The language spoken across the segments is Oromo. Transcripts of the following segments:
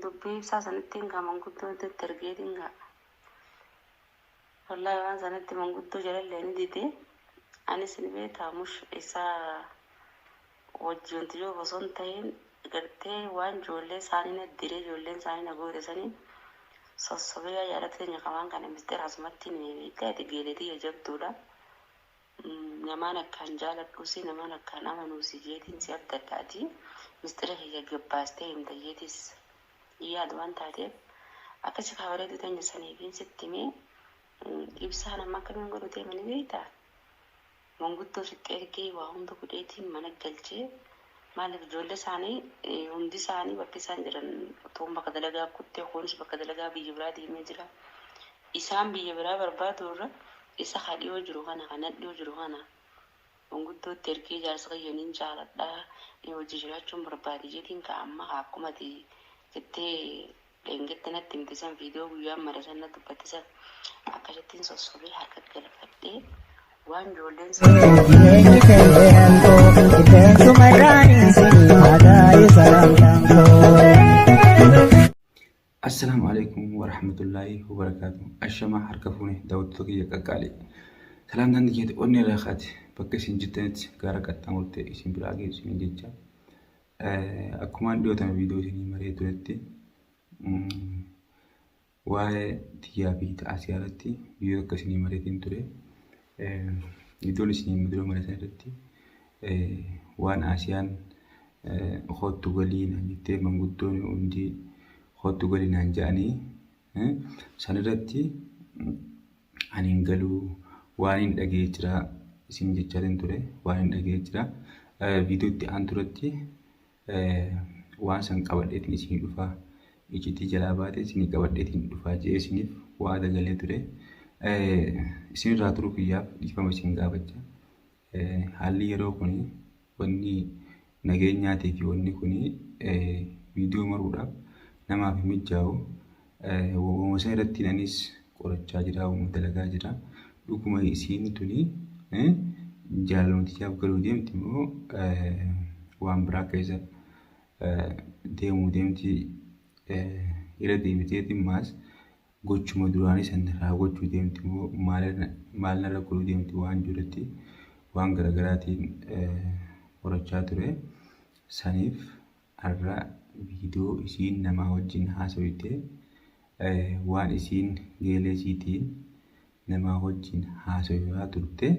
Dubbii ibsaa sanittiin kaa manguddoo iddootti ergeetiin kaa wallaahi waan sanitti manguddoo jalallee ni dide anis ni beektaa mush isaa wajji wanti yoo osoo hin tahin gartee waan joollee isaanii na diree joolleen isaanii na goote saniin sossobee yaa jaalatti teenya ka waan kana misxira asumattiin himee beektaa ati geelee tiyya jabduudha Namaan akkaan jaaladhuusi namaan akkaan amanuusi jeetiin si abdadhaati misxira kiyya gad baastee himta jeetiis hin yaadu waan taateef akkasi kaa bareedduu teenya saniifiin sitti himee ibsaan amma akkamiin godhu deema ni beekta manguddoo sitti ergee waa hunda godheetiin mana galchee maaliif ijoollee isaanii hundi isaanii bakki isaan jiran toon bakka dalagaa kuttee kunis bakka dalagaa biyya biraa deemee jira Isaan biyya biraa barbaaduu irra isa ka dhiyoo jiru kana, ka nadhoo jiru kana manguddootti ergee jaarsa kiyya nin jaaladha, inni wajji jiraachuun barbaade jedhiin ka amma ka akkuma ati jettee dheengadda natti himte san viidiyoo guyyaa mara san na dubbatte san akkasittiin sossobee harka galfadhee waan ijoolleen sun Jireenyi qeerreen koo qilleensuma gaariin siif haa gaa'e salaamtaan koo. Assalaamu Aleeykum Warahmatullaahi Wabarakaatu Ashamaa harka fuune daawwattoota kiyya qaqqaalii Salaamtaan tiyya onnee irraa kaate bakka isin jirtanitti gaara qaxxaamurtee isin biraa geessu isiniin jecha akkumaan dhiyoo tana viidiyoo isinii maree turetti waa'ee tiyyaa fi ta'asiyaa irratti viidiyoo akka isinii mareetiin ture Iddoon isin hin mudira mana sanatti waan Asiyaan hoottu galii naan jettee manguddoon hundi hoottu galii naan ja'anii sanirratti ani hin galuu waan hin dhagee jira isin jechaatiin ture waan hin dhagee jira viidiyootti aanturatti waan san qabadheetiin isinii dhufaa icitii jalaa baatee isinii qabadheetiin dhufaa jee isiniif waada galee ture isinirraa turuu kiyyaaf dhiifama isin gaafacha haalli yeroo kun wanni nageenyaatii fi wanni kun viidiyoo maruudhaaf namaaf hin mijjaa'u Wawwamusaa irratti anis qorachaa jira wawwama dalagaa jira dhuguma isiin tuni jaalalumatichaaf galuu deemti immoo waan biraa keessa deemuu deemti irra deebiteeti maas gochuma duraanii san raawwachuu deemti immoo maal narra godhuu deemti waan jirutti waan garaagaraatiin qorachaa ture saniif Arra video isiin namaa wajjin haasoyte waan isiin geelee isiitiin namaa wajjin haasoyaa turte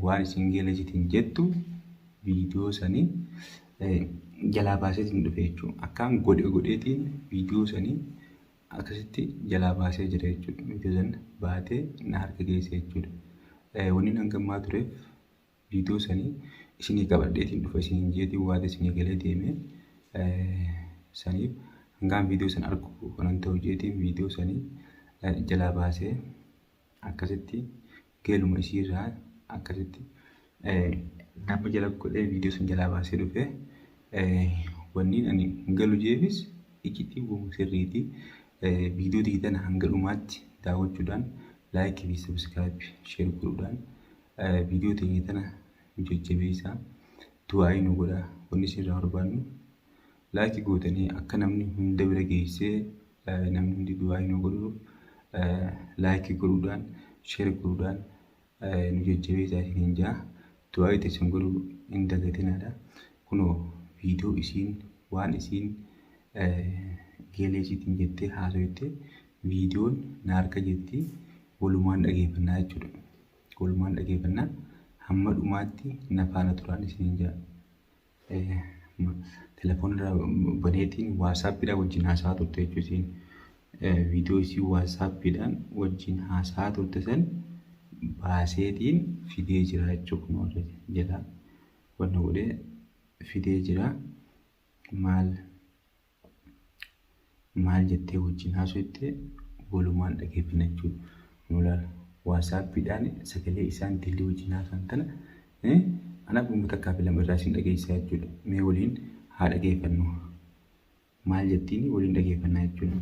waan isiin geelee isiitiin jettu video sani jalaa baaseetiin dhufe jechuu akkaan godhe godheetiin video sani akkasitti jalaa baasee jira jechuudha video san baatee na harka geesse jechuudha waniin hangammaa tureef Video sanii isinii qabadheetiin dhufa isiniin jeetiin waati isinii galee deemee saniif hangaan video san argu kanan ta'u jeetiin video sanii jalaa baasee akkasitti geeluma isiirraa akkasitti nama jala godhee video san jalaa baasee dhufee wanniin ani galu jeefis iccitii wama sirriitii video diidana hanga dhumaatti daawwachuudhaan laayikii fi sabiskiraayib sheer godhuudhaan Viidiyoo teenya tana nu jajjabeessaa du'aa'ii nu godhaa wanni isin irraa barbaannu laayikii gootanii akka namni hunda bira geessee namni hundi du'aa'ii nu godhuuf laayikii godhuudhaan sheer godhuudhaan nu jajjabeessaa isiniin jaa du'aa'ii teessan godhuu hin dagatinaadha kunoo viidiyoo isiin waan isiin geeleesiitiin jettee haasoyte viidiyoon na harka jirti walumaan dhageeffannaa jechuudha. Oolmaan dhageeffannaa hamma dhumaatti na faana turaan isiniin jedha. Eh, ma- Telefoon irraa baneetiin waasaappiidhaan wajjin haasa'aa turte jechuun isiin eh, viidiyoo isii waasaappiidhaan wajjin haasa'aa turte san baaseetiin fidee jira jechuun kun warra jalaa wanna godhee fidee jira maal maal jettee wajjin haasofte walumaan dhageeffina jechuudha. Nu ilaala. Waasaappiidhaan sagalee isaa intalli wajjin haasaan tana eh, anaaf dhuma takkaa fi lama irraa isin dhageessisaa jechuudha. Mee waliin haa dhageeffannu. Maal jettiini waliin dhageeffannaa jechuudha.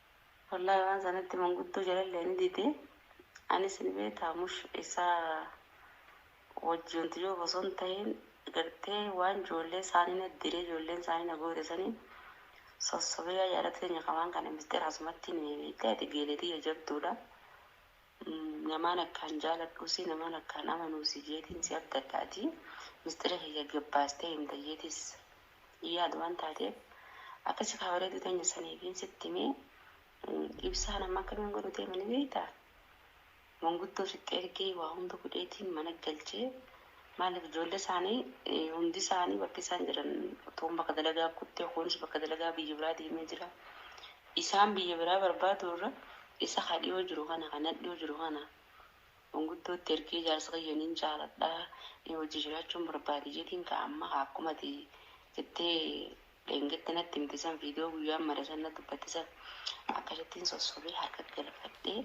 Wallahi waan sanatti manguddoo jalallee ni dide anis ni beektaa mush isaa wajji wantiyyoof osoo hin tahin gartee waan joollee saanii na dire joolleen saanii na goote saniin sossobee yaa jaalatti teenya ka waan kana misxira asumattii ni himi beektee ati geelee tiyya jabduudha Namaan akkaan jaaladhuusi namaan akkaan amanuusi jeetiin si abdadhaatii misxira kiyya gad baastee himta jeetiis hin yaadu waan taateef akkasi kaa bareedduu teenya saniifiin sitti himee Ibsaan amma akkamiin godhu deema ni beektaa? Manguddoo sitti ergee waa hunda godheetiin mana galchee Maaliif ijoollee isaanii hundi isaanii bakki isaan jiran toon bakka dalagaa kuttee kuunis bakka dalagaa biyya biraa deemee jira isaan biyya biraa barbaaduu irra isa ka dhiyoo jiru kana ka nadhiyoo jiru kana manguddootti ergee jaarsa kiyya nin jaaladha wajji jiraachuun barbaade jedhiin ka amma ka akkumati jettee Dheengadda natti himte san viidiyoo guyyaan mare san na dubbatte san akkasittiin sossobee harka galfadhee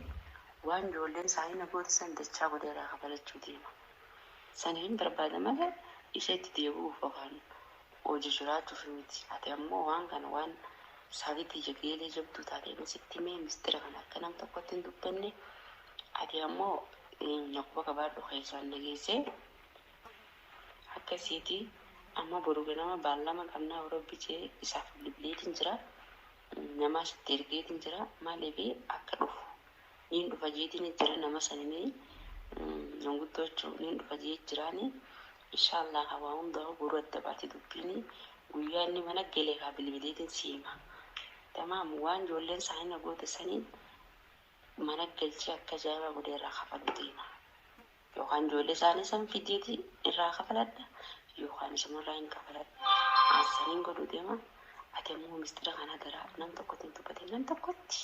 waan ijoolleen isaanii na goote san dachaa godhee irraa kafalachuu deema. Saniifin barbaada malee isa itti deebi'uuf yookaan hojii jiraachuuf miti. Ati ammoo waan kana waan saatii tiyya geelee jabduu taate ani sitti himee mistira kana akka nam tokkotti hin dubbanne ati ammoo na quba qabaadhu keessaan na geessee Akkasiiti amma boru ganama baallama qabna yoo rabbi jee isaaf bilbileetin jira namaas itti ergeetin jira maalifi akka dhufu niin dhufa jeetin jira nama sanini manguddoochu niin dhufa jee jiraani inshallah kaa waa hundaahu boru adda baati dubbiini guyyaa inni mana gele kaa bilbileetin sii hima tamaam waan joolleen isaani na goote sani mana galchii akka ajaa'ibaa godhee irraa kafaluu deema. Yookaan ijoollee isaanii san fidyeeti irraa kafaladha yookaan isumarraa hin kafaladha. An saniin godhu deema. Ati ammoo mistira kana garaa nam tokkotti hin dubbatin nam tokkotti.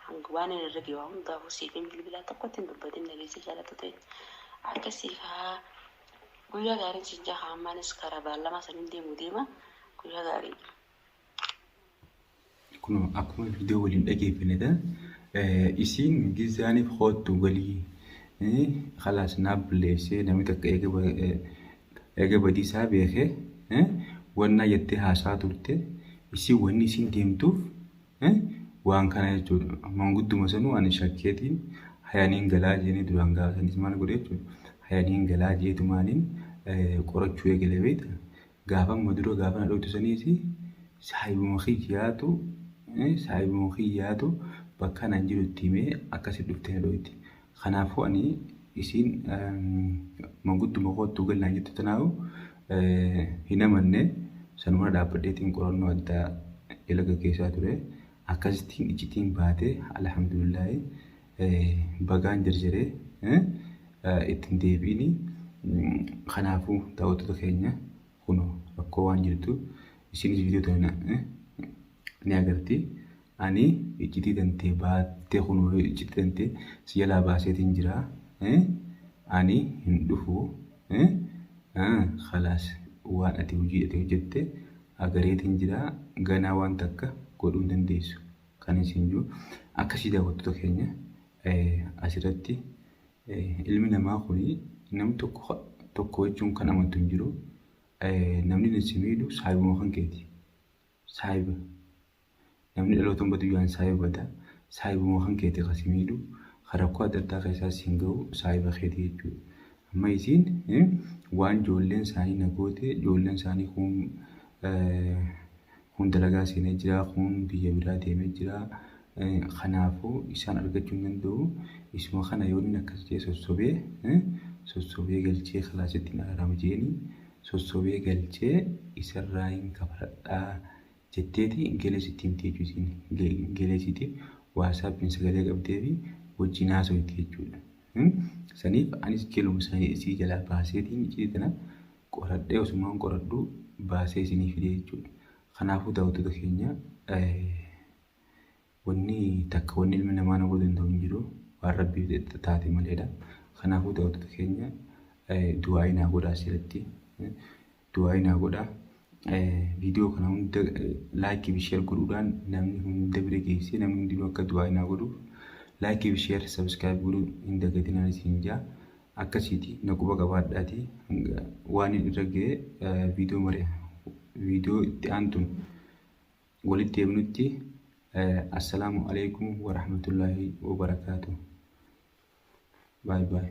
Hanga waan inni irra ga'e waa hundaafuu siif hin bilbilaa tokkotti hin dubbatin dhageessee jaalattu ta'e. Akkasii kaa guyyaa gaariin siin jaa haa ammaanis karaa baallamaa saniin deemu deema guyyaa gaarii. Kun akkuma viidiyoo waliin dhageeffannetan isiin gizaaniif hoottu galii kalaas naa bulleessee namni takka eega badiisaa beekee wannaa jettee haasaa turte isiin wanni isiin deemtuuf waan kana jechuudha mangudduma sanuu ani shakkeetiin hayaniin galaa jeenii duraan gaafatanis maal godhe jechuudha hayaniin galaa jeetumaaniin qorachuu eegale beekta Gaafan maduro gaafa na dhoytu saniis saahibuma kiyyaatu saahibuma kiyyaatu bakka nan jiru itti himee akkasitti dhuftee na dhoyti. Kanaafuu ani isiin mangudduma koottu gal naan jettu tanaahu hin amanne sanumana dhaabbadheetiin qorannoo addaa jala gaggeessaa ture. Akkasittiin iccitiin baate alhamdulillaahi. bagaan jarjaree itti hin deebi'ini. Kanaafuu daawwattoota keenya kun rakkoo waan jirtu isinis viidiyoo tana ni agarti. Ani iccitii tantee baattee kun iccitii tantee si jalaa baaseetiin jira. Ani hin dhufu. Kalaas waan ati hojii ati hojjette agareetiin jira. Ganaa waan takka godhuu hin dandeessu. Kan isin jiru akkasii daawwattoota keenya asirratti ilmi namaa kun namni tokko tokko jechuun kan amantu hin jiru. Namni isin miidhu saayibuma kan keeti. Saayiba. Namni dhaloota badu yaan saayiba bada. Saayibuma kan keeti kan si miidhu. Kan rakkoo adda addaa keessaa siin gahu saayiba keeti jechuudha. Amma isiin waan ijoolleen isaanii na goote ijoolleen isaanii kun Kun dalagaa seenee jira, kun biyya biraa deemee jira. Kanaafuu isaan argachuu hin danda'u. Isuma kana yoo inni akkas jee sossobee sossobee galchee kalaasitti hin araarama jeeni sossobee galchee isarraa hin kafaladhaa jetteeti gelee sitti himti jechuu isiin gelee siitiif waasaappiin sagalee qabdee fi wajjin haasoyte jechuudha. Saniif anis geluma isii jalaa baaseetiin iccitii tana qoradhee osumaan qoradhuu baasee isinii fidee jechuudha. Kanaafuu daawwattoota keenya wanni takka wanni ilmi namaa nama danda'u hin jiru waan rabbiif taate maleedha. Kanaafuu daawwattoota keenya du'aa'ii naa godhaa asirratti du'aa'ii naa godhaa. Viidiyoo kana hunda laayikii fi sheer godhuudhaan namni hunda bira geessee namni hundinuu akka du'aa'ii naa godhuuf laayikii fi sheer sabiskiraayib godhuu hin dagatinaan isin jaa. akkasiiti na quba qabaadhaati hanga waan hin irra ga'e viidiyoo mari viidiyoo itti aantuun walitti deemnutti assalaamu alaikum warahmatullaahi wabarakaatu baay baay